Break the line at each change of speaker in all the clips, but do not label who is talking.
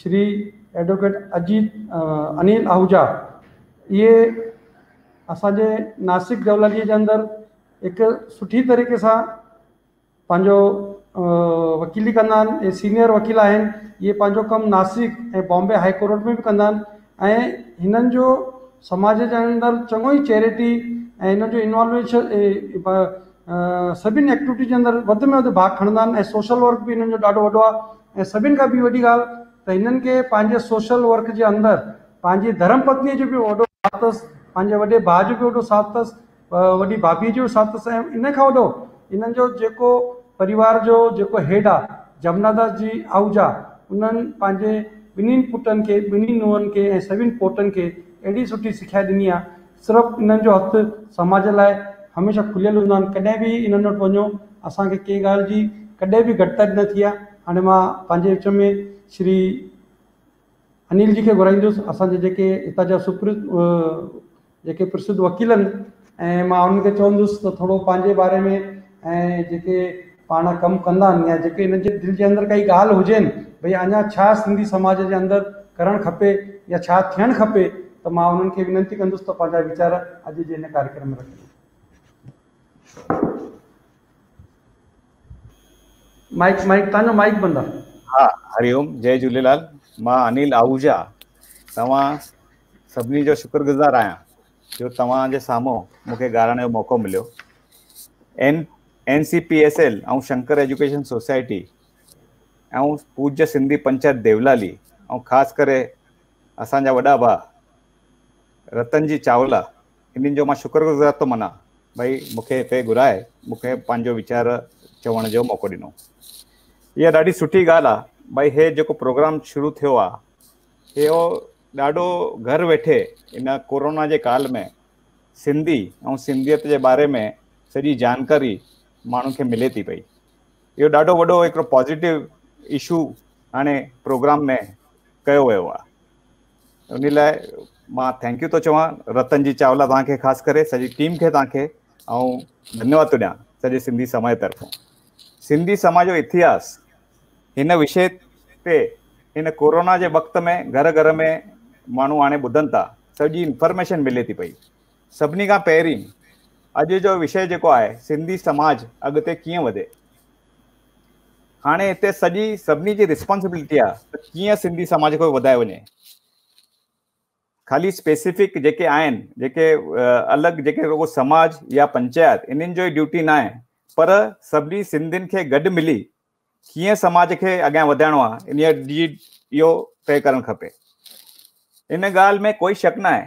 Shri advocate Ajit Anil Ahuja اهي اسان جي ناسڪ جولالي جي اندر هڪ سٺي طريقي سان پنهنجو وڪيلي ڪندا آهن ۽ سينئر وڪيل آهن اهي پنهنجو ڪم ناسڪ ۽ بامبي هائي ڪورٽ ۾ به ڪندا آهن ۽ هنن جو سماج جي اندر چڱو ئي چيريٽي ۽ هنن جو انوالويشن سڀني ايڪٽوٽي جي اندر وڌ ۾ وڌ ڀاڳ کڻندا آهن ۽ سوشل ورڪ به هنن جو ڏاڍو وڏو آهي ۽ سڀني کان ٻي وڏي ڳالهه ته هنن کي پنهنجي سوشل ورڪ جي اندر پنهنجي ڌرم پتنيء جو به وڏو ساٿ اٿس پنهنجي وڏي ڀاء جو به وڏو ساٿ اٿس وڏي ڀاڀي جو ساٿ سهيو ان کان وڏو انهن جو جيڪو پريوار جو جيڪو هيڊ آ جمنا داس جي آهوجا انهن پنهنجي ٻنهين پٽن کي ٻنهين نونهن کي ۽ سوين پوٽن کي اهڙي سٺي سکيا ڏني آ صرف انهن جو هٿ سماج لاء هميشه کليل هوندا آهن ڪڏهن به انهن وٽ وڃو اسان کي ڪنهن ڳالهه جي ڪڏهن به گهٽتائي نه ٿي آ هاڻي مان پنهنجي وچ ۾ شري انيل جي کي گهرائيندس اسان جي جيڪي هتان جا سپر جيڪي پرسڌ وڪيل آهن ۽ مان انهن کي چوندس ته ٿورو پنهنجي باري ۾ ۽ جيڪي پاڻ ڪم ڪندا آهن يا جيڪي انهن جي دل جي اندر ڪائي ڳالهه هجين ڀئي اڃا ڇا سنڌي سماج جي اندر ڪرڻ کپي يا ڇا ٿيڻ کپي ته مان انهن کي وينتي ڪندس ته پنهنجا ويچار اڄ جي هن ڪاريڪرم ۾ رکن. مائيڪ مائيڪ تانو مائيڪ بند آ. ها هري اوم
جي جهوليلال مان انيل آهوجا توهان سڀني جو شڪر گذار آهيان جو توهان جي سامهون مون کي ڳالهائڻ جو موقعو مليو N N C P S L ۽ Shankar education society ۽ Pooja Sindhi panchayat Deolali ۽ خاص ڪري اسان جا وڏا ڀاء رتن جي چاولا انهن جو مان شڪر گذار ٿو منا ڀئي مون کي هتي گهرائي مون کي پنهنجو ويچار چوڻ جو موقعو ڏنو اها ڏاڍي سٺي ڳالهه آهي ڀئي هي جيڪو پروگرام شروع ٿيو آهي اهو ڏاڍو گهر ويٺي ان ڪورونا جي ڪال ۾ سنڌي ۽ سنڌيت جي باري ۾ سڄي جانڪاري ماڻهن کي ملي ٿي پئي اهو ڏاڍو وڏو هڪڙو پازيٽو ايشو هاڻي پروگرام ۾ ڪيو ويو آهي انهي لاء مان ٿينڪ يو ٿو چوان رتن جي چاولا توهان کي خاص ڪري سڄي ٽيم کي توهان کي ۽ ڌنيواد ٿو ڏيان سڄي سنڌي سماج طرفان سنڌي سماج جو اتهاس هن وشي تي هن ڪورونا جي وقت ۾ گهر گهر ۾ ماڻهو هاڻي ٻڌن ٿا سڄي انفارميشن ملي ٿي پئي سڀني کان پهرين اڄ جو وشي جيڪو آهي سنڌي سماج اڳتي ڪيئن وڌي هاڻي هتي سڄي سڀني جي رسپانسبلٽي آهي ته ڪيئن سنڌي سماج کي وڌايو وڃي خالي اسپيسيفڪ جيڪي آهن جيڪي الڳ جيڪي رڳو سماج يا پنچايت انهن جو ڊيوٽي نه آهي پر سڀني سنڌين کي گڏ ملي ڪيئن سماج کي اڳيان وڌائڻو آهي ان جي اهو طئي ڪرڻ کپي ان ڳالهه ۾ ڪوئي شڪ نه آهي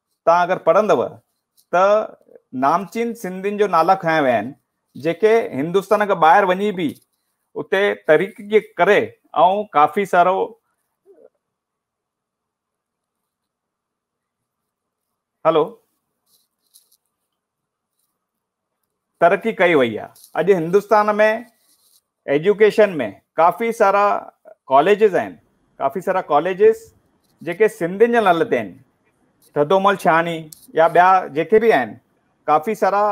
توهان اگر پڙهندؤ ته نامچين سنڌين جو نالا کنيا ويا آهن جيڪي هندستان کان ٻاهر وڃي به اتي تحريڪي ڪري ۽ ڪافي سارو هلو ترقي ڪئي وئي آهي اڄ هندستان ۾ ايجوڪيشن ۾ ڪافي سارا ڪاليجز آهن ڪافي سارا ڪاليجز جيڪي سنڌين جي نالي تي آهن ٿڌومل شاهاڻي يا ٻيا جيڪي بي آهن ڪافي سارا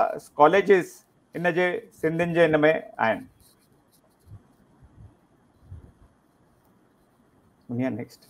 ڪاليجز ان جي سنڌين جي ان ۾ آهن دنيا نيڪسٽ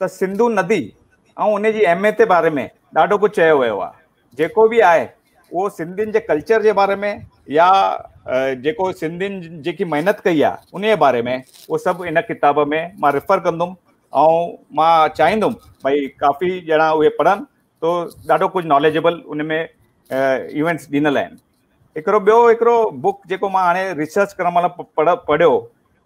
ته سنڌو ندي ۽ ان جي اهميت جي باري ۾ ڏاڍو ڪجهه چيو ويو آهي جيڪو به آهي اهو سنڌين جي ڪلچر جي باري ۾ يا جيڪو سنڌين جيڪي محنت ڪئي آهي ان جي باري ۾ اهو سڀ ان ڪتاب ۾ مان ريفر ڪندم ۽ مان چاهيندم ڀئي ڪافي ڄڻا اهي پڙهن تو ڏاڍو ڪجهه ناليجبل ان ۾ ايونٽس ڏنل آهن هڪڙو ٻيو هڪڙو بڪ جيڪو مان هاڻي ريسرچ ڪرڻ مهل پڙهيو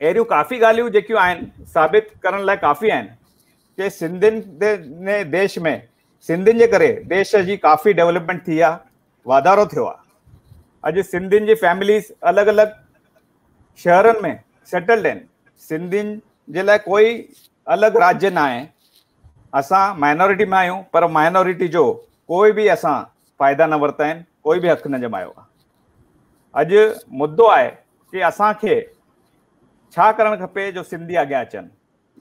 اهڙيون ڪافي ڳالهيون جيڪيون آهن ثابت ڪرڻ لاء ڪافي آهن ڪي سنڌين دي ديش ۾ سنڌين جي ڪري ديش جي ڪافي ڊيولپمينٽ ٿي آ واڌارو ٿيو آ اڄ سنڌين جي فيمليز الڳ الڳ شهرن ۾ سيٽلڊ آهن سنڌين جي لاء ڪوئي الڳ راجي نه آهي اسان مائنورٽي ۾ آهيون پر مائنورٽي جو ڪوئي به اسان فائدا نه ورتا آهن ڪوئي به حق نه جمايو آ اڄ مدو آهي ڪي اسان کي ڇا ڪرڻ کپي جو سنڌي اڳيان اچن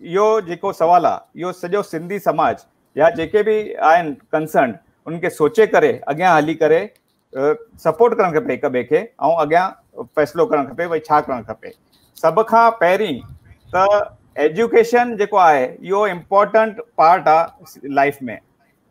اهو جيڪو سوال آهي اهو سڄو سنڌي سماج يا جيڪي به آهن ڪنسرن ان کي سوچي ڪري اڳيان هلي ڪري سپورٽ ڪرڻ کپي هڪ ٻئي کي ۽ اڳيان فيصلو ڪرڻ کپي ڀائی ڇا ڪرڻ کپي سڀ کان پهرين ته ايجوڪيشن جيڪو آهي اهو امپورٽنٽ پارٽ آهي لائف ۾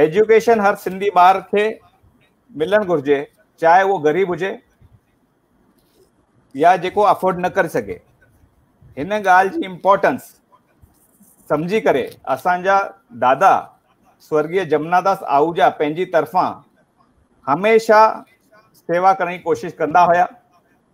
ايجوڪيشن هر سنڌي ٻار کي ملڻ گهرجي چاهي اهو غريب هجي يا جيڪو افورڊ نه ڪري سگهي هن ڳالهه جي امپورٽنس سمجهي ڪري اسان جا دادا سورگيه جمنا داس آهوجا پنهنجي طرفان هميشه سيوا ڪرڻ جي ڪوشش ڪندا هيا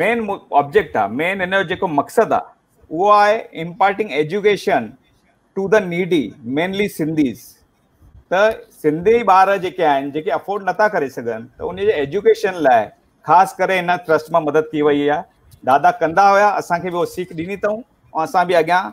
مين آبجيڪٽ آ مين ان جو جيڪو مقصد آ اهو آهي imparting education to the needy mainly Sindhis ته سنڌي ٻار جيڪي آهن جيڪي افورڊ نٿا ڪري سگهن ته ان جي ايجوڪيشن لاء خاص ڪري هن ٽرسٽ مان مدد ڪي وئي آهي دادا ڪندا هيا اسانکي به سيک ڏني اٿئون ۽ اسان به اڳيان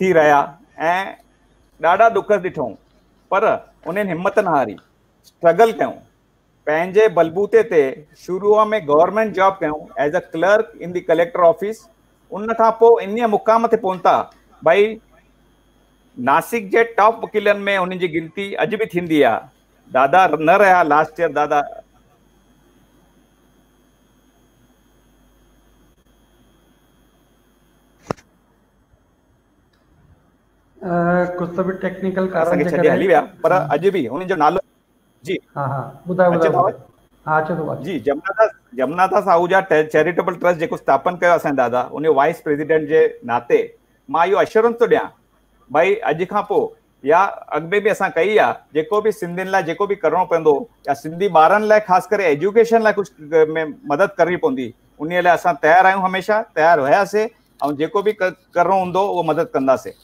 ٿي رهيا ۽ ڏاڍا ڏک ڏٺئون پر انهن همت نه هاري اسٽرگل ڪيون پنهنجي بلبوتي تي شروع ۾ گورنمينٽ جاب ڪيون as a clerk in the collector office ان کان پوء ان مقام تي پهتا ڀائي ناسڪ جي ٽاپ وڪيلن ۾ انهن جي گنتي اڄ به ٿيندي آ دادا نه رهيا لاسٽ ايئر دادا
ڪجهه به ٽيڪنيڪل ڪارڻ جي ڪري هلي ويا پر اڄ
به انهن جو نالو جي ها ها ٻڌاء ٻڌاء ها اچي ٿو جي جمنا داس جمنا داس آهوجا چيريٽيبل ٽرسٽ جيڪو ستاپن ڪيو اسان دادا ان وائس پريزيڊنٽ جي ناتي مان اهو اشورنس ٿو ڏيان ڀائی اڄ کان پوء يا اڳ ۾ به اسان ڪئي آ جيڪو به سنڌين لاء جيڪو به ڪرڻو پوندو يا سنڌي ٻارن لاء خاص ڪري ايجوڪيشن لاء ڪجهه ۾ مدد ڪرڻي پوندي ان لاء اسان تيار آهيون هميشه تيار هياسي ۽ جيڪو به ڪرڻو هوندو اهو مدد ڪنداسي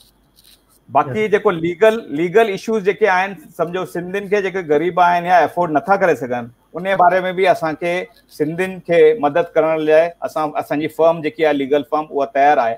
باقي جيڪو ليگل ليگل ايشوز جيڪي آهن سمجهو سنڌين کي جيڪي غريب آهن يا افورڊ نٿا ڪري سگهن ان باري ۾ به اسان کي سنڌين کي مدد ڪرڻ لاء اسان اسان جي فرم جيڪي آهي ليگل فرم اها تيار آهي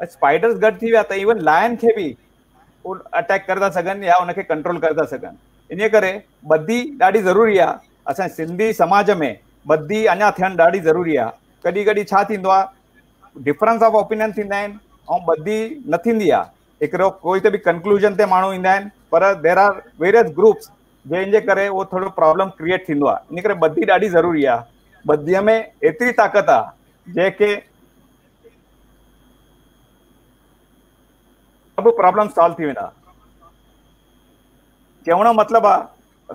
اسپائڊرز گڏ ٿي ويا ته ايون لائن کي به اٽيڪ ڪري ٿا سگهن يا ان کي ڪنٽرول ڪري ٿا سگهن ان ڪري ٻڌي ڏاڍي ضروري آ اسان سنڌي سماج ۾ ٻڌي اڃا ٿيڻ ڏاڍي ضروري آ ڪڏي ڪڏي ڇا ٿيندو آ ڊفرنس آف اوپينن ٿيندا آهن ۽ ٻڌي نه ٿيندي آ هڪڙو ڪوئي ته به ڪنڪلوجن تي ماڻهو ايندا آهن پر دير آر ويريس گروپس جنهن جي ڪري اهو ٿورو پرابلم ڪرييٽ ٿيندو آ ان ڪري ٻڌي ڏاڍي ضروري آ ٻڌي ۾ ايتري طاقت آ جنهن کي سڀ پرابلم سالو ٿي ويندا چوڻ جو مطلب آ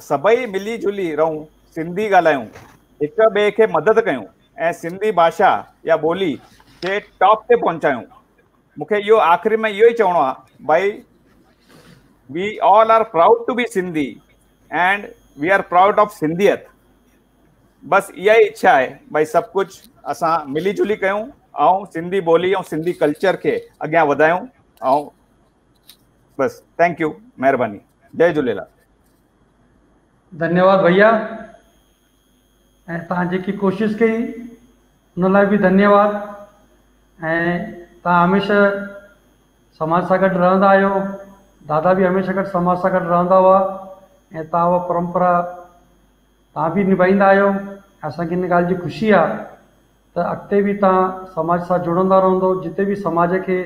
سڀئي ملي جلي رهون سنڌي ڳالهايون هڪ ٻئي کي مدد ڪيون ۽ سنڌي ڀاشا يا ٻولي کي ٽاپ تي پهچايون مونکي اهو آخري ۾ اهو ئي چوڻو آ ڀائي we all are proud to be Sindhi and we are proud of سنڌيت بس اها ئي اڇا آهي ڀاء سڀ ڪجهه اسان ملي جلي ڪيون ۽ سنڌي ٻولي ۽ سنڌي ڪلچر کي اڳيان وڌايون ۽ بس ٿينڪ يو مهرباني جي جهليلال ڌنيواد
ڀيا ۽ تان جيڪي ڪوشش ڪئي ان لاء به ڌنيواد ۽ تان هميشه سماج سان گڏ رهندا آهيو دادا به هميشه گڏ سماج سان گڏ رهندا هئا ۽ تان اها پرمپرا توهان به نڀائيندا آهيو ۽ اسان کي ان ڳالهه جي خوشي آهي ته اڳتي به توهان سماج سان جڙندا رهندو جتي به سماج کي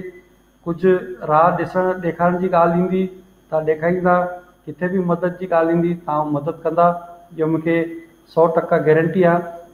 ڪجهه راهه ڏسڻ ڏيکارڻ جي ڳالهه ايندي توهان ڏيکاريندا ڪٿي به مدد جي ڳالهه ايندي توهان مدد ڪندا اهو مون کي سؤ ٽڪا گيرنٽي آهي